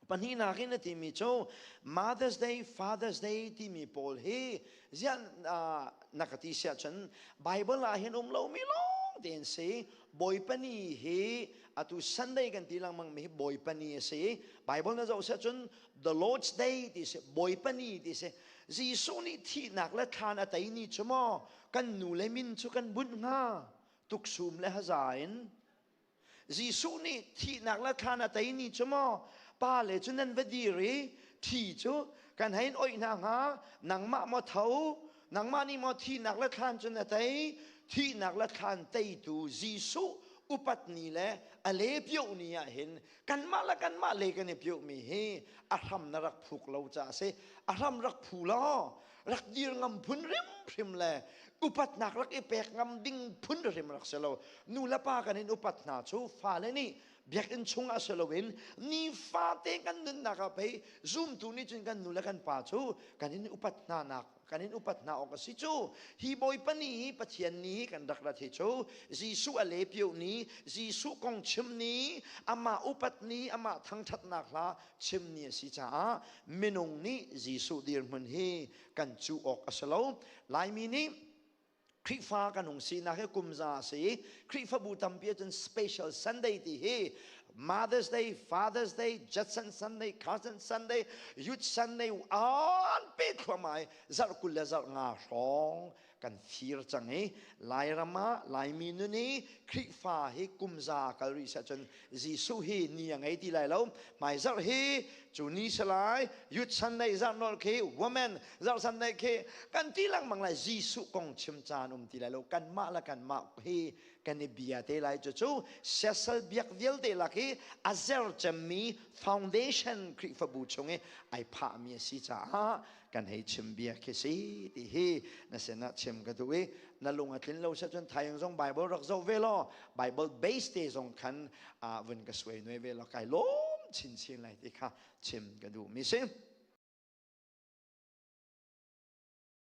Pahnihnak in a timi cu Mother's Day, Father's Day timi pawl hi zian na ka ti siah cun Bible ah hin um lomi lawng tein si Bawipani hi atu Sunday kan ti lengmang mi hi Bawipani a si Bible na zoh siah cun The Lord's Day ti si Bawipani ti si Jesuh nih thihnak le thlan a tei ni cu maw kan nu le min cu kan bunh hnga tuksum le haza in Jesuh nih thihnak la thlan a tei ni cu maw pa le cu nan va dir i thi cu kan hein oih hna hnga nangmah maw tho nangmah nih maw thihnak la thlan cu na tei thihnak la thlan teitu Jesuh upat ni le a le pio ni ah hin kanmah le kanmah le kan i piomi hi a hram na rak phuk lo ca a si a hram rak phu law rak dir ngam phun hrimhrim le upatnak rak i pek ngam ding phun hrimhrim rak si lo nu le pa kan in upat hna cu fale nih biakinn chungah si loin ni fate kan nunnak ah pei zumtu nih cun kan nu le kan pa cu kan in upat hna nak kan in upat hna awk a si cu hi bawipa ni hi pathian ni hi kan rak rat hi cu jesuh a lepio ni jesuh kong chim ni amah upat ni amah thangthatnak hla chimni a si caah minung nih Jesuh dirhmun hi kan cu awk a si lo Laimi nih Khrihfa kan hung sinak hi kumza a si i Khrihfabu tampi ah cun special Sunday ti hi Mother's Day, Father's Day, Judson Sunday, Cousin Sunday, Youth Sunday anpi thluamai zarh kul le zarh nga hrawng kan fir cang i lairam ah laimi nun i khrifa hi kumza kal rih seh cun jesuh hi ni a ngei ti lai lo mai zarh hi cu ni salai yut san nei zarh nol khi woman zarh san nei khi kan ti lengmang lai jesuh kong chim caan um ti lai lo kan mah la kan mah hi kan i bia te lai cu cu sesal biak vialte lak i a zer cemmi foundation khrifabu chung i ai phahmi a si caah kan hei chim bia khi si ti hi na sinah chim ka duh i na lung a tlin lo se cun thayang zong bible rak zoh ve law bible base te zong khan ah vun ka suai nuai ve law kai lawm chin chin lai ti kha chim ka duh mi si